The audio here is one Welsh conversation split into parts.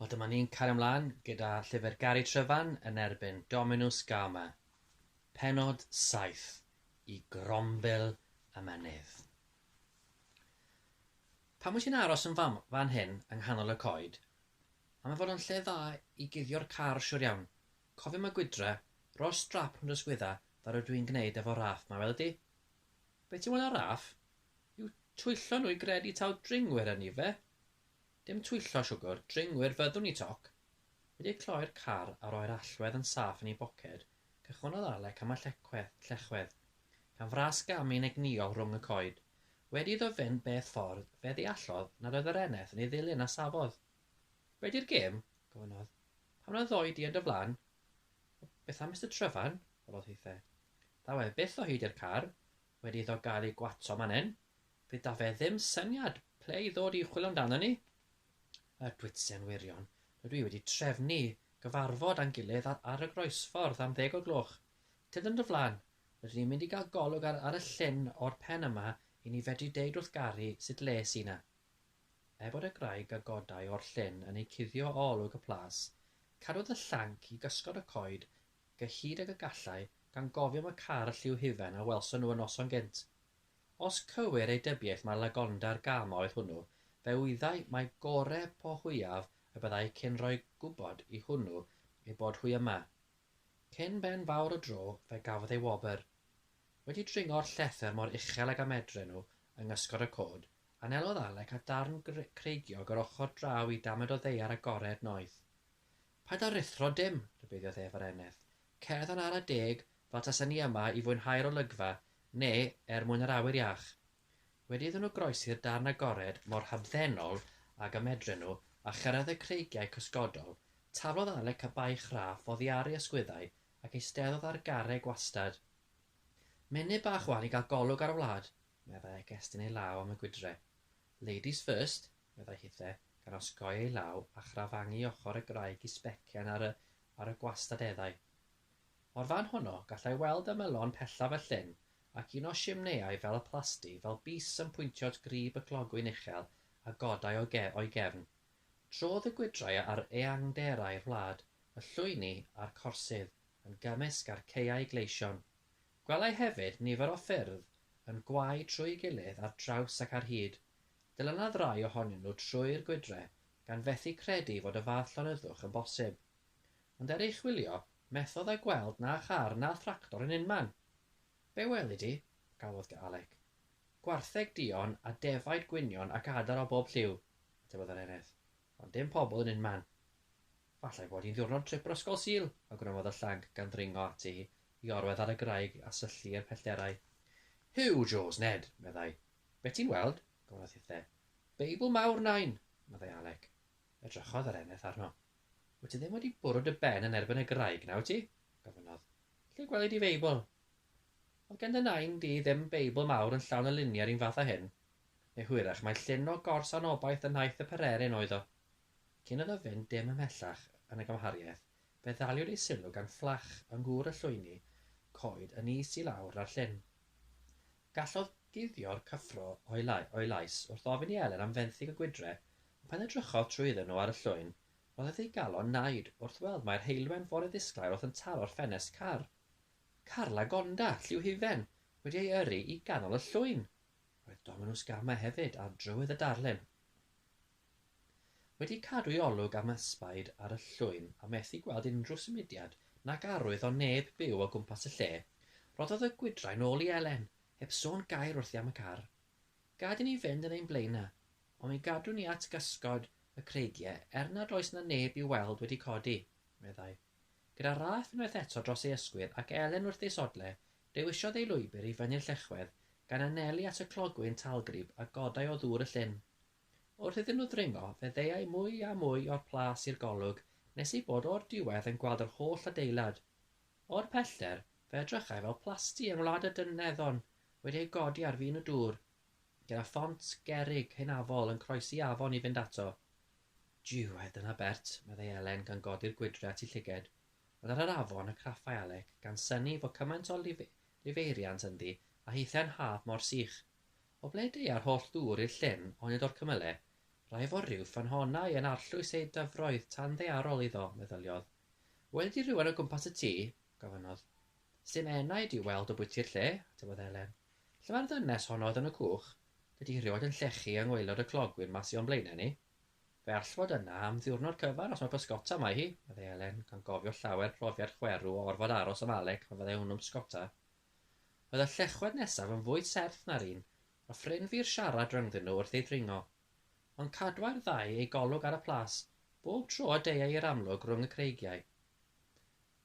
Wel dyma ni'n cario ymlaen gyda llyfr Gary Tryfan yn erbyn Dominus Gama, penod 7 i grombil y mynydd. Pam wyt ti'n aros yn fam, fan hyn yng nghanol y coed? A mae fod yn lle dda i guddio'r car siwr iawn. Cofio mae gwydre, rho'r strap rhwng dy sgwydda fel rydw i'n gwneud efo Raff ma, wele di? Be ti'n weld ar Raff? Yw twyllo nhw i gredu taw dringwyr ynni fe? Dim twyllo siwgwr, dringwyr fyddwn i toc! Wedi cloi'r car a roi'r allwedd yn saff yn ei boced, cychwynnodd Alec am y llecwedd, llechwedd, gan fras gamu'n egnïol rhwng y coed. Wedi iddo fynd beth ffordd, fe ddeallodd nad oedd yr eneth yn ei ddilyn a safodd. Be di'r gêm? gofynnodd. Pam na ddoi di yn dy flan? O, beth am Mister Tryfan? holodd hithe. Ddaw ef byth o hyd i'r car, Wedi iddo gael ei gwatsio man hyn, fe da fe ddim syniad ple i ddod i chwilio amdano ni. Y Gwitsen wirion, rydw i wedi trefnu gyfarfod a'n gilydd ar y groesffordd am ddeg o gloch. Tydd yn dy flan, rydyn ni'n mynd i gael golwg ar ar y llyn o'r pen yma i ni fedru deud wrth Gari sut le sy na. Er bod y graig a godai o'r llyn yn eu cuddio o olwg y plas, cadwodd y llanc i gysgod y coed gyhyd ag y gallai, gan gofio am y carl lliw hufen a welson nhw y noson gynt. Os cywir ei dybiaeth mae Lagonda'r gam oedd hwnnw, fe wyddai mai gore po hwyaf y byddai cyn rhoi gwybod i hwnnw ei bod hwy yma. Cyn ben fawr y dro fe gafodd ei wobr. Wedi dringo'r llethr mor uchel ag a medre nhw yng ngysgod y cod, anelodd Alec at ddarn creigiog yr ochr draw i damed o ddaear agored noeth. Paid â ruthro dim, rhybuddiodd ef ar eneth. Cerdd yn ara deg, fel tasen ni yma i fwynhau'r olygfa, neu er mwyn yr awyr iach. Wedi iddyn nhw groesi'r darn agored mor hamddenol ag y medren nhw, a chyrraedd y creigiau cysgodol, taflodd Alec y baich raff oddi ar ei ysgwyddau ac eisteddodd ar garreg gwastad. Mynydd bach 'wan i gael golwg ar y wlad, meddai ac estyn ei law am y gwydre. Ladies first, meddai Hithe, gan osgoi ei law a chrafangu ochr y graig i sbecian ar y ar y gwastadeddau. O'r fan honno, gallai weld ymylon pellaf y llyn, ac un o simneiau fel y plasty, fel bys yn pwyntio at grib y clogwyn uchel a godai o ge o'i gefn. Trodd y gwydrau a'r eangderau'r wlad, y llwyni a'r corsydd, yn gymysg â'r caeau gleision. Gwelai hefyd nifer o ffyrdd yn gwau trwy'i gilydd ar draws ac ar hyd, Dilynaf rai ohonyn nhw trwy'r gwydre, gan fethu credu fod y fath llonyddwch yn bosib. Ond er ei chwilio, methodd â gweld na char na thractor yn unman! Be weli di? galwodd Dŷ Alec. Gwartheg duon a defaid gwynion ac adar o bob lliw, atebodd yr eraill, ond dim pobl yn unman. Fallai fod hi'n ddiwrnod trip yr Ysgol Sul, awgrymodd y llanc gan ddringo ati i orwedd ar y graig a syllu i'r pellterau. Huw, Joes, Ned! meddai, Be' ti'n weld? gofynnodd Hithe. Beibl mawr, Nain! meddai Alec. Edrychodd yr eneth arno. Wyt ti ddim wedi bwrw dy ben yn erbyn y graig, na wyt ti? gofynnodd. Lle gweli di Feibl? Oedd gen dy Nain di ddim Beibl mawr yn llawn y luniau yr un fath â hyn? Neu hwyrach mai llun o gors anobaith yn nhaith y pererin oedd o? Cyn iddo fynd dim ymhellach yn y gymhariaeth, fe ddaliwyd ei sylw gan fflach yng ngŵr y llwyni coed yn is i lawr na'r llyn. Gallodd guddio'r cyffro o'i lais wrth ofyn i Elen am fenthyg y gwydre, ond pan edrychodd trwydden nhw ar y llwyn, roedd ef ei galon naid wrth weld mai'r heulwen fore ddisglair oedd yn taro'r ffenest car. Car Lagonda, lliw hufen, wedi ei yrru i ganol y llwyn! Roedd Dominws Gamau hefyd ar drywydd y darlun. Wedi cadw'i olwg am ysbaid ar y llwyn a methu gweld unrhyw symudiad nac arwydd o neb byw o gwmpas y lle, rhoddodd y gwydrain ôl i Elen, heb sôn gair wrthi am y car. Gad i ni fynd yn ein blaenau, ond mi gadwn ni at gysgod y creigiau er nad oes yna neb i'w weld wedi codi, meddai. Gyda Rath unwaith eto dros ei ysgwydd ac Elen wrth ei sodle, dewisiodd ei lwybr i fyny'r llechwedd, gan anelu at y clogwyn talgrib a godai o ddŵr y llyn. Wrth iddyn nhw ddringo, fe ddeuai mwy a mwy o'r plas i'r golwg nes eu bod o'r diwedd yn gweld yr holl adeilad. O'r pellter, fe edrychai fel plasty yng Ngwlad y Dyneddon wedi ei godi ar fin y dŵr, gyda ffont gerrig hynafol yn croesi afon i fynd ato. Jiw-e, dyna bert, meddai Elen gan godi'r gwydre at ei llyged. Ond ar yr afon y craffai Alec, gan synnu fo cymaint o lifeiriant ynddi a hithau'n haf mor sych. O ble deua'r holl ddŵr i'r llyn, onid o'r cymyle? Rai fo ryw ffynhonnau yn arllwys eu dyfroedd tan ddaearol iddo, meddyliodd. Weli di rywun o gwmpas y tŷ? gofynnodd. Sdim enaid i'w weld o bwyty'r lle, atebodd Elen. Lle mae'r ddynes honno oedd yn y cwch? Dydi hi rioed yn llechu yng ngwaelod y clogwyn 'ma sy o'n blaenau ni. Fe all fod yna am ddiwrnod cyfan os mae pysgota 'ma i hi, meddai Elen, gan gofio llawer profiad chwerw o orfod aros am Alec pan fyddai hwnnw'n bysgota. Oedd y llechwedd nesaf yn fwy serth na'r un, a ffrin fi'r siarad rhyngddyn nhw wrth ei ddringo. Ond cadwai'r ddau eu golwg ar y plas, bob tro y deuai i'r amlwg rhwng y creigiau.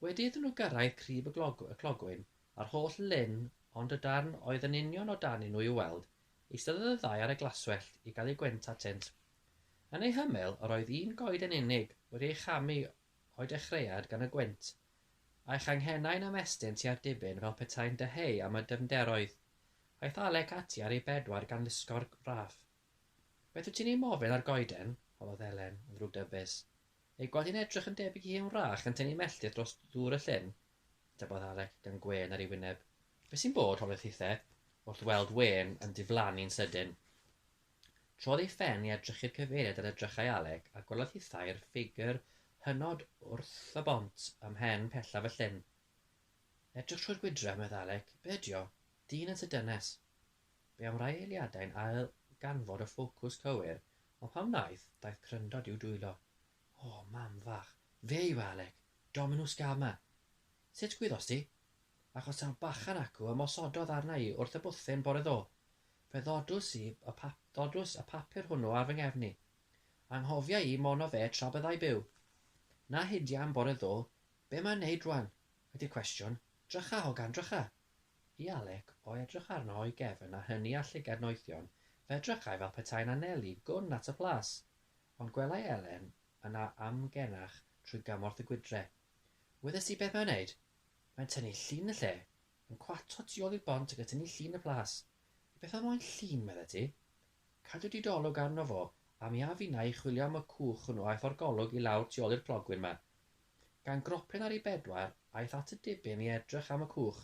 Wedi iddyn nhw gyrraedd crib y clogwyn, a'r holl lyn ond y darn oedd yn union o dan i nhw i'w weld, eisteddodd y ddau ar y glaswellt i gael eu gwent atynt. Yn eu hymyl, yr oedd un goed yn unig wedi ei chamu o'i dechreuad gan y gwynt, a'i changhennau'n ymestyn tua'r dibyn fel petai'n dyheu am y dyfnderoedd. Aeth Alec ati ar ei bedwar gan lusgo'r raff. Beth wyt ti'n ei mofyn ar goeden? holodd Elen, yn ddrwgdybus. Ei gweld hi'n edrych yn debyg i hen wrach yn tynnu melltith dros ddŵr y llyn, ategodd Alec, gan gwên ar ei wyneb. Be' sy'n bod? holodd Hithe, wrth weld wên yn diflannu'n sydyn. Trodd ei phen i edrych i'r cyfeiriad yr edrychai Alec, a gwelodd hi thair ffigr hynod wrth y bont ym mhen pellaf y llyn. Edrych trwy'r gwydre, medd Alec, be ydio? Dyn yn tŷ dynes! Be am rai eiliadau'n ail ganfod y ffocws cywir, ond pan wnaeth, daeth cryndod i'w dwylo. O, mam fach! Fe yw e, Alec! Dominws Gama! Sut gwyddost ti? Achos taw bachan acw ymosododd arna i wrth y bwthyn bore ddoe. Fe ddodws i, y pa-, ddodws y papur hwnnw ar fy nghefn i. Anghofia i, mono fe tra byddai byw. Na hydia am bore ddo, be mae'n neud rwan? ydi'r cwestiwn. Drycha, hogan, drycha! I Alec, o edrych arno o'i gefn a hynny â llygad noethion, fe edrychai fel petai'n anelu gwn at y plas. Ond gwelai Elen yna amgenach trwy gymorth y gwydre. Wyddes di beth mae'n neud? Mae'n tynnu llun y lle! Yn cwato tu ôl i'r bont ac atyni'n llun y plas. Beth oedd moyn llun, medde ti? Cadw dy golwg arno fo, a mi a finna i chwilio am y cwch hwnnw aeth o'r golwg i lawr tu ôl i'r clogwyn 'ma. Gan gropyn ar ei bedwar, aeth at y dibyn i edrych am y cwch.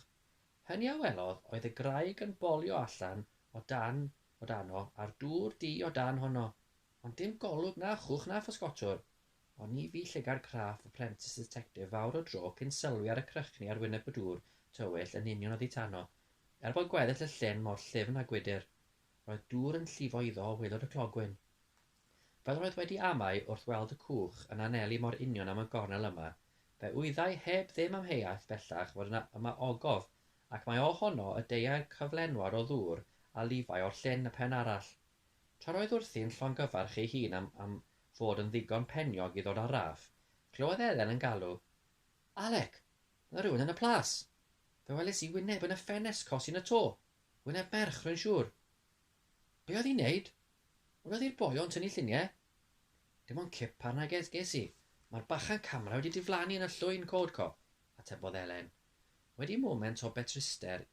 Hynny a welodd oedd y graig yn bolio allan o dan o dano a'r dŵr du o dan honno. Ond dim golwg na chwch na physgotwr. Ond ni fu llygad craff y Prentice Detective fawr o dro cyn sylwi ar y crychni ar wyneb y dŵr tywyll yn union oddi tano. Er bod gweddill y llyn mor llyfn a gwydr, roedd dŵr yn llifo iddo o waelod y clogwyn. Fel roedd wedi amau wrth weld y cwch yn anelu mor union am y gornel yma, fe wyddai heb ddim amheuaeth bellach fod yna yma ogof, ac mai o honno y deuai'r cyflenwad o ddŵr a lifai o'r llyn y pen arall. Tra roedd wrthi'n llongyfarch ei hun am am fod yn ddigon peniog i ddod ar raff, clywodd Elen yn galw, Alec! Mae rhywun yn y plas! Fe welis i wyneb yn y ffenest cos yn y to! Wyneb merch, rwy'n siŵr! Be oedd hi'n neud? Welodd hi'r boi o'n tynnu lluniau? Dim ond cip arna ges ges i. Mae'r bachan camera wedi diflannu yn y llwyn, Codco! atebodd Elen. Wedi moment o betruster,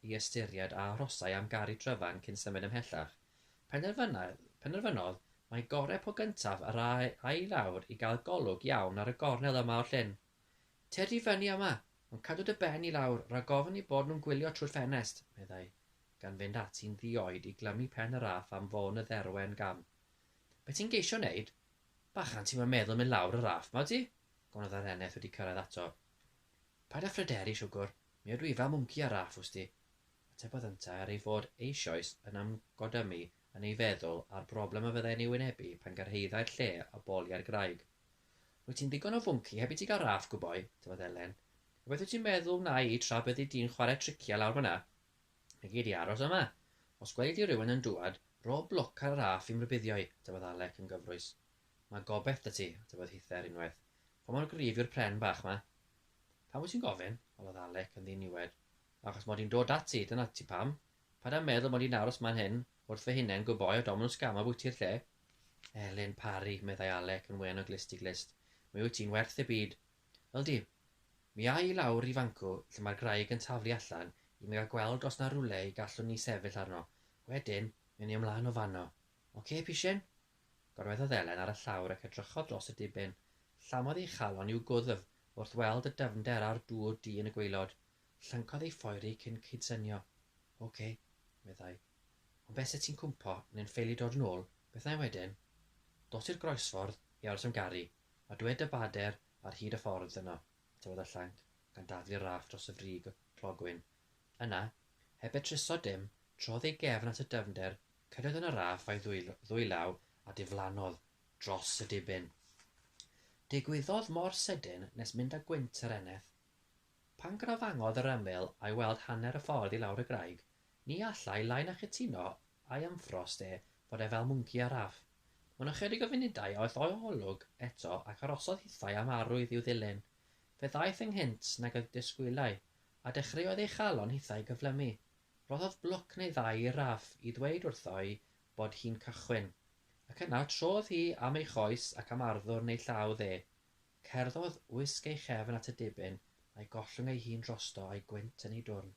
i ystyried a arhosai am garu Tryfan cyn symud ymhellach. Penderfynodd mai gorau po gyntaf yr ai i lawr i gael golwg iawn ar y gornel yma o'r llyn. Tyrd i fyny yma, ond cadw dy ben i lawr rhag ofn eu bod nhw'n gwylio trwy'r ffenest, meddai, gan fynd ati'n ddi-oed i glymu pen y raff am fôn y dderwen gam. Be ti'n geisio wneud? Bachan, ti'm yn meddwl mynd lawr y raff 'ma, wyt ti? gonodd yr eneth wedi cyrraedd ato. Paid â phryderu, siwgwr, mi ydw i fel mwnci ar raff, wsti, atebodd yntau ar ei fod eisioes yn ymgodymu yn ei feddwl â'r broblem a fyddai'n ei wynebu pan gyrhaeddai'r lle a boli â'r graig. Rwyt ti'n ddigon o fwnci heb i ti gael raff, gwyboi, atebodd Elen. Rhywbeth wyt ti'n meddwl wna i tra byddi di'n chwarae triciau lawr fan'na? Ni gei di aros yma. Os gweli di rywun yn dŵad, rho bloc ar y raff i'm rhybuddio i, atebodd Alec yn gyfrwys. Mae gobaith 'da ti, dywedodd Hithe ar unwaith. Pa mor gryf yw'r pren bach 'ma? Pam wyt ti'n gofyn? holodd Alec yn ddiniwed. Achos mod i'n dod ati, dyna ti pam. Paid â meddwl mod i'n aros 'ma'n hŷn, wrth fy hunen, good boy, a domen o sgam ambwyti'r lle. Elin Parry, meddai Alec yn wen o glust i glust, mi wyt ti'n werth y byd. Yldi. Mi a' i lawr i fancw lle mae'r graig yn taflu allan i mi gael gweld os 'na rywle y gallwn ni sefyll arno. Wedyn, mi a' ni ymlaen o fanno. Ocê, pishyn? gorweddodd Elen ar y llawr ac edrychodd dros y diben. Llamodd ei chalon i'w gwddf wrth weld y dyfnder a'r dŵr du yn y gwaelod. Llyncodd ei phoeri cyn cydsynio. Ocê, meddai. Ond be' 'set ti'n cwmpo neu'n ffeili dod yn ôl, beth na'i wedyn? Dos i'r groesffordd i aros am garu, a dwed dy bader ar hyd y ffordd yno, taflodd y llanc, gan daflu'r raff dros y frig y clogwyn, Yna, heb y trysor dim, trodd ei gefn at y dyfnder, cyrraedd yn y raff a'i ddwy law a diflannodd dros y dibyn. Digwyddodd mor sydyn nes mynd â gwynt yr eneth. Pan grafangodd yr ymyl a'i weld hanner y ffordd i lawr y graig, ni alla i lai na chytuno a'i ymffrost e fod e fel mwnci ar raff. Mewn ychydig o funudau aeth o'i olwg eto ac arosodd hithau am arwydd i'w ddilyn. Fe ddaeth ynghynt nag y disgwylai, A dechreuodd ei chalon hithau gyflymu. Rhoddodd blwc neu ddau i Raff i ddweud wrtho'i bod hi'n cychwyn, ac yna trodd hi am ei choes ac am arddwrn ei llaw dde. Cerddodd wisg ei chefn at y dibyn a'i gollwng ei hun drosto a'i gwynt yn ei dwrn.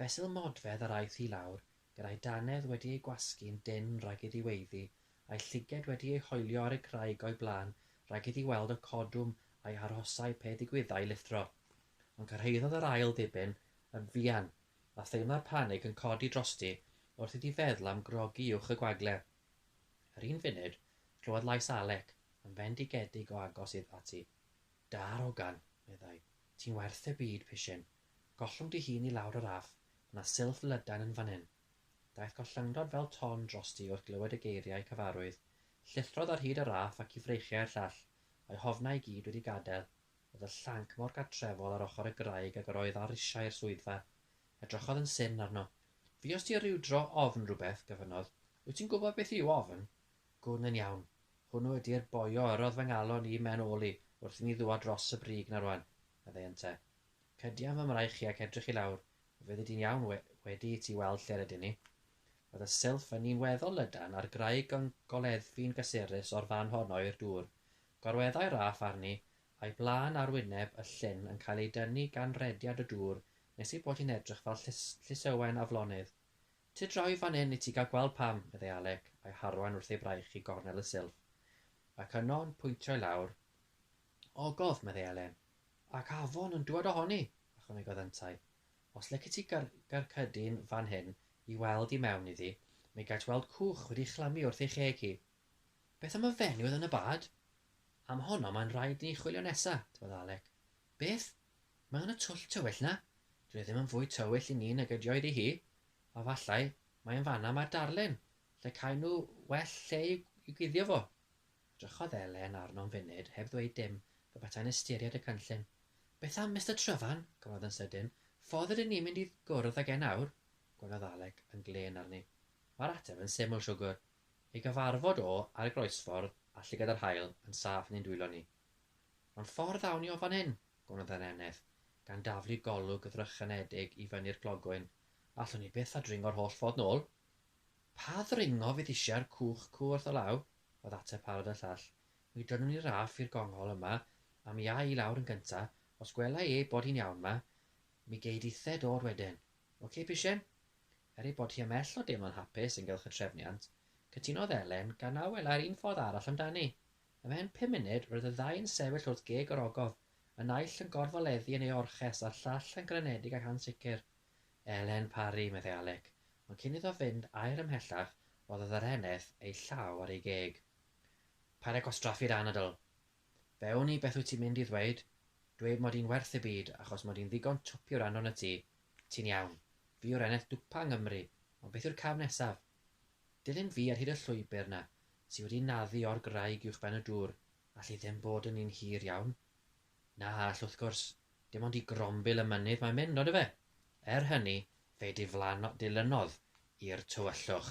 Fesul modfedd yr aeth hi lawr, gyda'i dannedd wedi ei gwasgu'n dynn rhag iddi weiddi, a'i llyged wedi ei hoelio ar y graig o'i blaen rhag iddi weld y codwm a'i arhosai pe ddigwyddai lithro. ond cyrhaeddodd yr ail ddiben yn fuan, a theimlai'r panig yn codi drosti wrth iddi feddwl am grogi uwch y gwagle. Yr un funud, clywodd lais Alec yn fendigedig o agos iddo ati. Darogan! meddai. Ti'n werth y byd, pishyn. Gollwng dy hun i lawr yr aff, mae 'na silff lydan yn fan hyn. Daeth gollyngdod fel ton drosti wrth glywed y geiriau cyfarwydd. Llithrodd ar hyd y raff ac i freichiau'r llall, a'i hofnau i gyd wedi gadael, Roedd y llanc mor gartrefol ar ochr y graig ag yr oedd ar risiau i'r swyddfa. Edrychodd yn syn arno. Fuost ti ryw dro ofn rhywbeth? gofynnodd. Wyt ti'n gwybod beth yw ofn? Gwn yn iawn. Hwnnw ydi'r boi a yrrodd fy ngalon i mewn ôl i, wrth i mi ddwad dros y brig 'na rwan, meddai ynte. Cydian fy mraich i ac edrych i lawr. Mi fyddi di'n iawn we- wedi i ti weld lle rydyn ni. Roedd y silff yn un weddol lydan a'r graig yn goleddfu'n gysurus o'r fan honno i'r dŵr. Gorweddai Raff arni, a'i blân ar wyneb y llyn yn cael ei dynnu gan rediad y dŵr nes ei bod hi'n edrych fel llysewen aflonydd. Ti draw i fan 'yn i ti gael gweld pam, meddai Alec, a'i harwain wrth ei fraich i gornel y silff. Ac yno, yn pwyntio i lawr, Ogof, meddai Elen. Ac afon yn dŵad ohoni! ychwanegodd yntau. Os licet ti garcudyn fan hyn i weld i mewn iddi, mi gait weld cwch wedi chlymu wrth ei cheg hi. Beth am y fenyw yn y bad? Am honno mae'n rhaid i ni chwilio nesa, dywedodd Alec. Beth? Mae yna twll tywyll 'na? Dyw e ddim yn fwy tywyll i ni nag ydioedd i hi. A fallai mai yn fan'na mae'r darlun, lle caen nhw well lle i'w guddio fo. Edrychodd Elen arno am funud heb ddweud dim, pe beta'n ystyried y cynllun. Beth am Mister Tryfan? gofynnodd yn sydyn. Ffordd ydyn ni'n mynd i gwrdd ag e nawr? gwelodd Alec yn glên arni. Mae'r ateb yn syml, siwgwr, I gyfarfod o ar y groesffordd a llygad yr haul yn saff yn ein dwylo ni. Ond ffordd awn ni o fan hyn? gofynnodd yr eneth, gan daflu golwg ddrychinedig i fyny'r clogwyn. Allwn ni byth ddringo'r holl ffordd nôl. Pa ddringo fydd eisiau'r cwch cw wrth y law? oedd ateb parod y llall. Mi drynwn i Raff i'r gongol yma, a mi a' i lawr yn gynta, os gwela i ei bod hi'n iawn 'ma, mi gei di the dod wedyn. Ocê, Pishyn? Er ei bod hi ymhell o deimlo'n hapus ynghylch y trefniant, cytunodd Elen, gan na welai'r un ffordd arall amdani. Ymhen pum munud, roedd y ddau yn sefyll wrth geg yr ogof, y naill yn gorfoleddu yn ei orches a'r llall yn grynedig ac ansicr. Elen Parry, meddai Alec, ond cyn iddo fynd air ymhellach, rhoddodd yr eneth ei llaw ar ei geg. Paid â gwastraffu'r anadl! Fe wn i beth wyt ti'n mynd i ddweud, dweud mod i'n werth y byd achos mod i'n ddigon twp i wrando arnot ti. Ti'n iawn. Fi yw'r eneth dwpa yng Nghymru, ond beth yw'r cam nesaf? Dilyn fi ar hyd y llwybr 'na sy wedi naddu o'r graig uwchben y dŵr, all hi ddim bod yn un hir iawn. Na, all wrth gwrs, dim ond i grombil y mynydd mae'n mynd, ondife? Er hynny, fe diflano- dilynodd i'r tywyllwch.